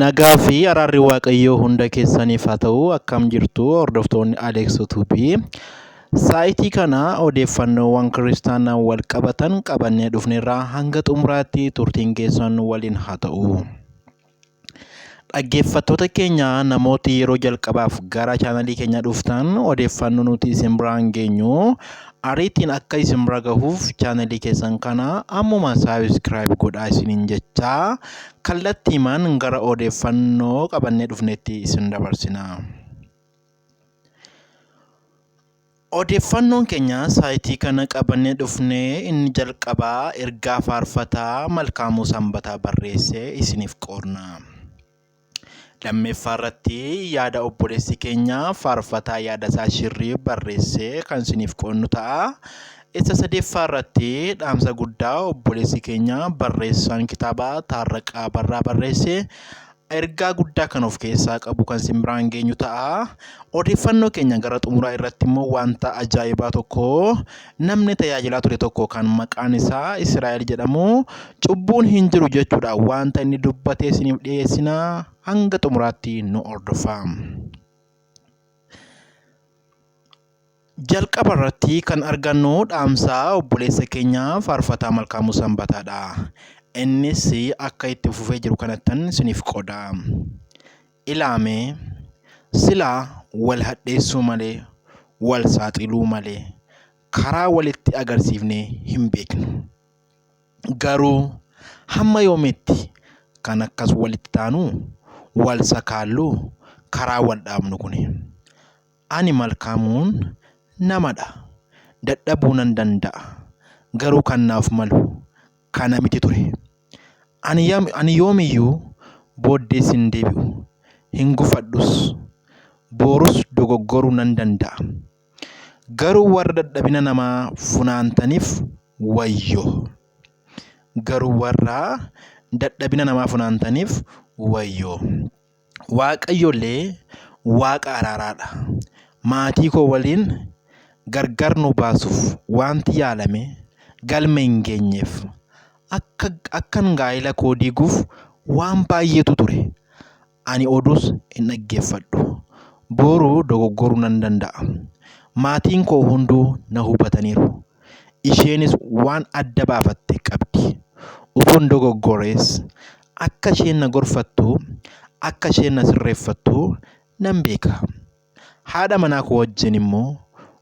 Nagaa fi araarri Waaqayyoo hunda keessaniif haa ta'u akkam jirtu hordoftoonni Aleeks Utuubii. Saayitii kana odeeffannoowwan kiristaanaan wal qabatan qabannee dhufneerraa hanga xumuraatti turtiin keessan waliin haa ta'u. Dhaggeeffattoota keenya namooti yeroo jalqabaaf gara chaanalii keenya dhuftan odeeffannoo nuti isin biraan geenyu Ariitiin akka isin bira gahuuf chaanalii keessan kana ammuma saabskraayib godhaa isiniin jechaa kallattiimaan gara odeeffannoo qabannee dhufnetti isin dabarsina. Odeeffannoon keenya saayitii kana qabannee dhufnee inni jalqabaa ergaa faarfataa Malkaamuu Sanbataa barreesse isiniif qoodna. Lammeeffaa irratti yaada obboleessi keenya faarfataa yaada isaa shirrii barreessee kan isiniif qoodnu ta'a. Isa sadeeffaa irratti dhaamsa guddaa obboleessi keenya barreessaan kitaaba taarraqaa barraa barreesse ergaa guddaa kan of keessaa qabu kan isin biraan geenyu ta'a. Odeeffannoo keenya gara xumuraa irratti immoo wanta ajaa'ibaa tokko Namni tajaajilaa ture tokko kan maqaan isaa Israa'el jedhamu cubbuun hin jiru jechuudha wanta inni dubbate isiniif dhiyeessina hanga xumuraatti nu hordofaa. Jalqaba irratti kan argannu dhaamsaa obboleessa keenyaa faarfataa Malkaamuu Sanbataadha. Innis akka itti fufee jiru kanattan isiniif qooda. Ilaa mee, silaa wal hadheessuu malee, wal saaxiluu malee karaa walitti agarsiifnee hin beeknu. Garuu hamma yoomiitti kan akkas walitti taanu, wal sakaallu, karaa wal dhaabnu kuni? Ani Malkaamuun namadha, dadhabuu nan danda'a, garuu kan naaf malu, kana miti ture. Ani, ani yoomiyyuu booddees hin deebi'u, hin gufadhus. Boorus dogoggoruu nan danda'a. Garuu warra dadhabina namaa funaantaniif wayyoo! Garuu warra dadhabina namaa funaantaniif wayyoo! Waaqayyollee Waaqa araaraa dha. Maatii koo waliin gargar nu baasuuf waanti yaalame galma hin geenyeef. Akka akkan gaa'ila koo diiguuf waan baay'eetu ture. Ani oduus hin dhaggeeffadhu. Boru dogoggoruu nan danda'a. Maatiin koo hunduu na hubataniiru. Isheenis waan adda baafatte qabdi. Utuun dogoggorees Akka isheen na gorfattu, akka isheen na sirreeffattu nan beeka. Haadha manaa koo wajjin immoo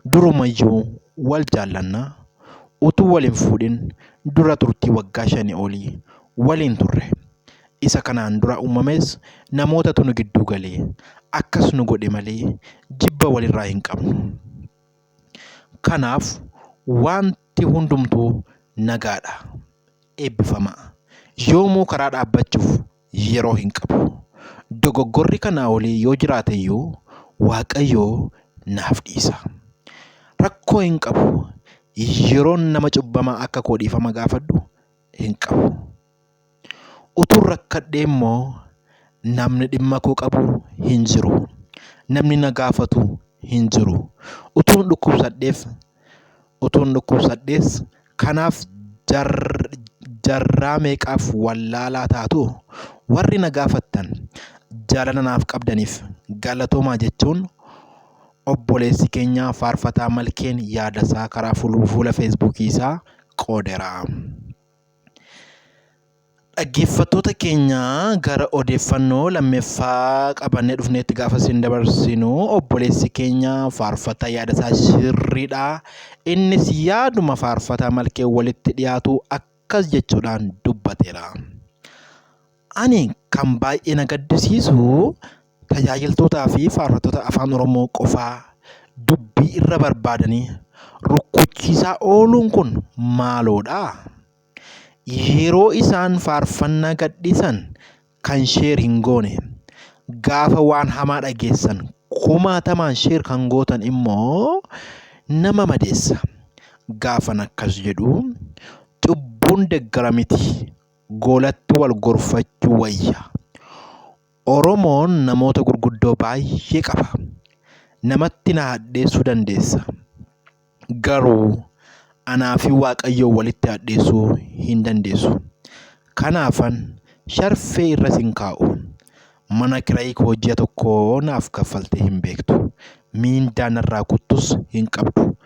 durumayyuu wal jaallanna. Utuu wal hin fuudhin dura turtii waggaa shanii olii waliin turre. Isa kanaan dura uumames namootatu nu gidduu gale. Akkas nu godhe malee jibba walirraa hin qabnu. Kanaaf wanti hundumtuu nagaadha. Eebbifamaa. Yoomuu karaa dhaabbachuuf yeroo hin qabu. Dogoggorri kanaa olii yoo jiraate iyyuu Waaqayyo naaf dhiisa. Rakkoo hin qabu. Yeroon nama cubbamaa akka koo dhiifama gaafadhu hin qabu. Utuun rakkadhee immoo namni dhimma koo qabu hin jiru. Namni na gaafatu hin jiru. Utuun dhukkubsadheef utuun dhukkubsadhees kanaaf jaarraa meeqaaf wallaalaa taatuu? Warri na gaafattan jaalala naaf qabdaniif galatoomaa jechuun obboleessi keenya Faarfataa Malkeen yaadasaa karaa fuula feesbuukii isaa qoodeera. Dhaggeeffattoota keenya gara odeeffannoo lammeffaa qabannee dhufneetti gaafa isin dabarsinu obboleessi keenya faarfataa yaada isaa sirriidha. Innis yaaduma faarfataa malkee walitti dhiyaatu akkas jechuudhaan dubbateera. Ani kan baay'ee na gaddisiisu tajaajiltootaa fi faarfattoota Afaan Oromoo qofaa dubbii irra barbaadanii rukkuchiisaa ooluun kun maaloodha? Yeroo isaan faarfannaa gadhiisan kan sheer hin goone, gaafa waan hamaa dhageessan kumaatamaan sheer kan gootan immoo nama madeessa. Gaafan akkas jedhu cubbuun deggara miti. goolatti wal gorfachuu wayya. Oromoon namoota gurguddoo baay'ee qaba. Namatti na hadheessuu dandeessa. Garuu anaa fi Waaqayyoon walitti hadheessuu hin dandeessu. Kanaafan sharfee irra sin kaa'u. Mana kirayii koo ji'a tokkoo naaf kaffaltee hin beektu. Miindaa narraa kuttus hin qabdu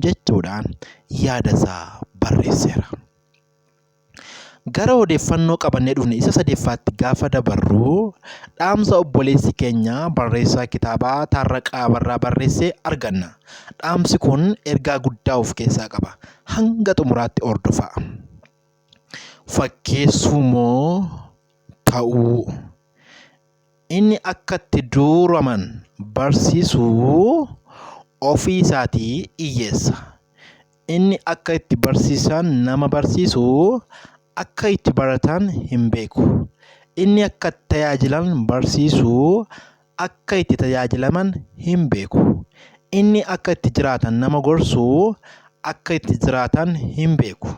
jechuudhaan yaadasaa barreesseera. Gara odeeffannoo qabannee dhufne isa sadeffaatti gaafa dabarru dhaamsa obboleessi keenya barreessaa kitaabaa Taarraqaa Abarraa barreesse arganna. Dhaamsi kun ergaa guddaa of keessaa qaba. Hanga xumuraatti hordofaa. Fakkeessuu moo ta'uu? Inni akka itti duuraman barsiisu ofii isaatii dhiyyeessa. Inni akka itti barsiisan nama barsiisu akka itti baratan hin beeku. Inni akka itti tajaajilan barsiisu akka itti tajaajilaman hin beeku. Inni akka itti jiraatan nama gorsu akka itti jiraatan hin beeku.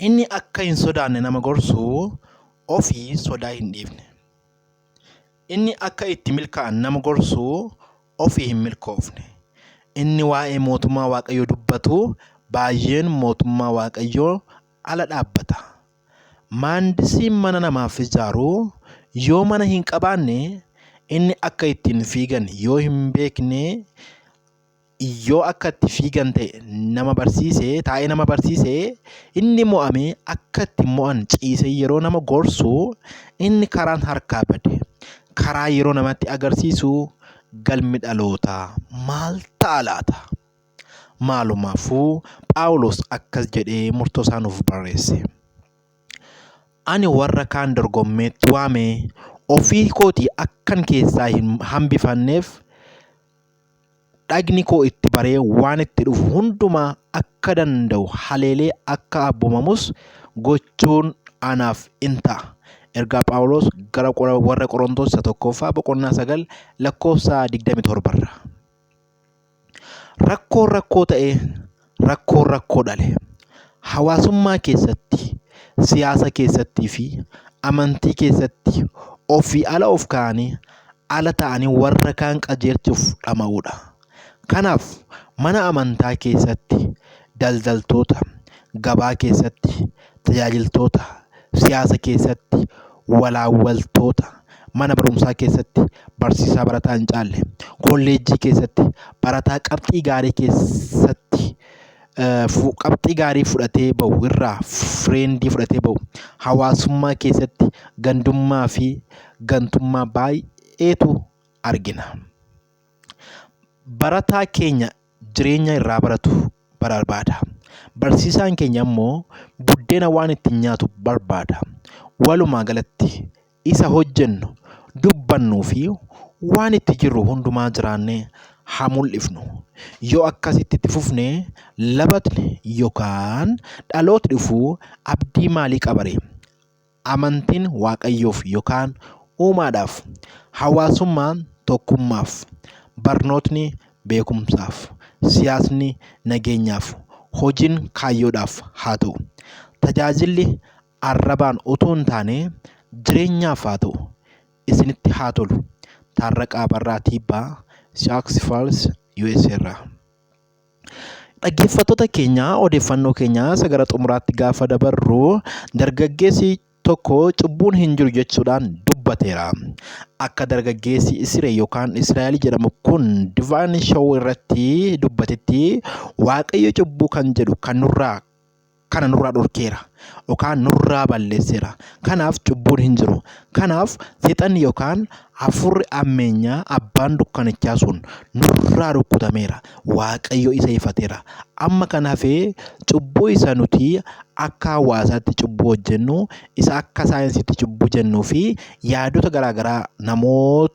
Inni akka hin sodaanne nama gorsu ofii sodaa hin dhiifne. Inni akka itti milkaa'an nama gorsu ofii hin milkoofne. Inni waa'ee mootummaa Waaqayyoo dubbatu baay'een mootummaa Waaqayyoo ala dhaabbata. Maandisiin mana namaaf ijaaru yoo mana hin qabaanne inni akka ittiin fiigan yoo hin beekne Yoo akka itti fiigan ta'e nama barsiise taa'ee nama barsiise inni mo'ame akka itti mo'an ciisee yeroo nama gorsu inni karaan harkaa bade karaa yeroo namatti agarsiisu galmi dhalootaa maal ta'a laata? Maalumaafuu Phaawulos akkas jedhee murtoo isaa nuuf barreesse. Ani warra kaan dorgommeetti waame ofii kootii akkan keessaa hin hambifanneef dhagni koo itti baree waan itti dhufu hundumaa akka danda'u haleelee akka abbomamus gochuun anaaf in ta'a. Ergaa Phaawulos gara warra Qorontoos isa tokkoffaa boqonnaa sagal lakkoofsa 27 irra. Rakkoon rakkoo ta'ee rakkoon rakkoo dhale. Hawaasummaa keessatti, siyaasa keessattii fi amantii keessatti ofii ala of kaa'anii, ala ta'anii warra kaan qajeelchuuf dhama'uu dha. Kanaaf, mana amantaa keessatti, daldaltoota, gabaa keessatti, tajaajiltoota, siyaasa keessatti walaawwaltoota, mana barumsaa keessatti barsiisaa barataa hin caalle, kolleejjii keessatti barataa qabxii gaarii keessatti qabxii gaarii fudhatee bahu irraa fireendii fudhatee bahu, hawaasummaa keessatti gandummaa fi gantummaa baay'eetu argina. Barataa keenya jireenya irraa baratu barbaada. Barsiisaan keenya immoo buddeena waan ittiin nyaatu barbaada. Walumaa galatti isa hojjennu, dubbannuu fi waan itti jirru hundumaa jiraannee haa mul'ifnu. Yoo akkasitti itti fufne labatni yookaan dhalootni dhufu abdii maalii qabaree? Amantiin Waaqayyoof yokaan uumaadhaaf. Hawaasummaan tokkummaaf. Barnootni beekumsaaf. Siyaasni nageenyaaf. Hojiin kaayyoodhaaf haa ta'u. Tajaajilli arrabaan utuu hin taane jireenyaaf haa ta'u. Isinitti haa tolu. Taarraqaa Abarraa Tiibbaa, Sioux Falls, USA irraa. Dhaggeeffattoota keenya odeeffannoo keenya isa gara xumuraatti gaafa dabarru dargaggeessi tokko cubbuun hin jiru jechuudhaan dubbateera. Akka dargaggeessi Isiree yookaan Israa'el jedhamu kun Divaan Show irratti dubbatetti Waaqayyo cubbuu kan jedhu kan nurraa kana nurraa dhorkeera yookaan nurraa balleesseera. Kanaaf cubbuun hin jiru. Kanaaf seexanni yookaan hafuurri ammeenyaa abbaan dukkanichaa sun nurraa rukkutameera. Waaqayyo isa ifateera. Amma kan hafee cubbuu isa nuti akka hawaasaatti cubbuu hojjennu, isa akka saayinsiitti cubbuu jennuu fi yaadota garaagaraa namoota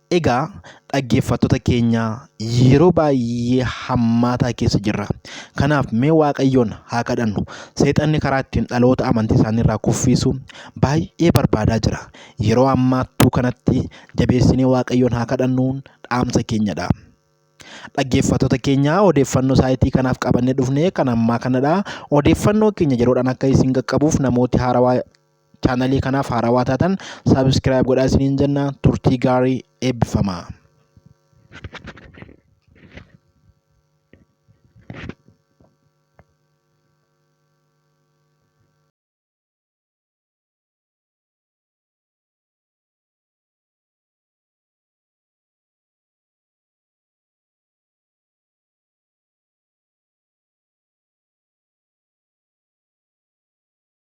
Egaa dhaggeeffattoota keenya yeroo baay'ee hammaataa keessa jirra. Kanaaf mee Waaqayyoon haa kadhannu. Seexanni karaa ittiin dhaloota amantii isaanii irraa kuffiisu baay'ee barbaadaa jira. Yeroo hammaattuu kanatti jabeessinee Waaqayyoon haa kadhannuun dhaamsa keenyadha. Dhaggeeffattoota keenya odeeffannoo saayitii kanaaf qabannee dhufne kan ammaa kanadha. Odeeffannoo keenya yeroodhaan akka isin qaqqabuuf namooti haarawaa Chaanalii kanaaf haarawaa taatan subscribe godhaa isiniin jenna turtii gaarii eebbifamaa.